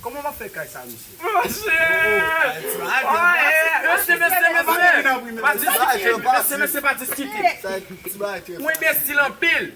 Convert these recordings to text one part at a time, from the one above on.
Koman map fè kay sa mesye. Mesye. Mesye mesye mesye. Pa diskite mesye mesye pa diskite. Mwen enbesil anpil.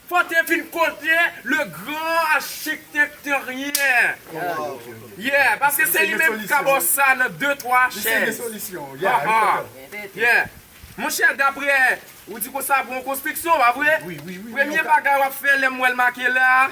Fò te vin kote le gran achiktèkteryen. Yeah paske se li menm ki ka baw sa nan de twa chèz. Yeah monchè daprè ou di konsa pou yon konstriksyon pa vre. Premye bagay wap fè lèm wèl make la.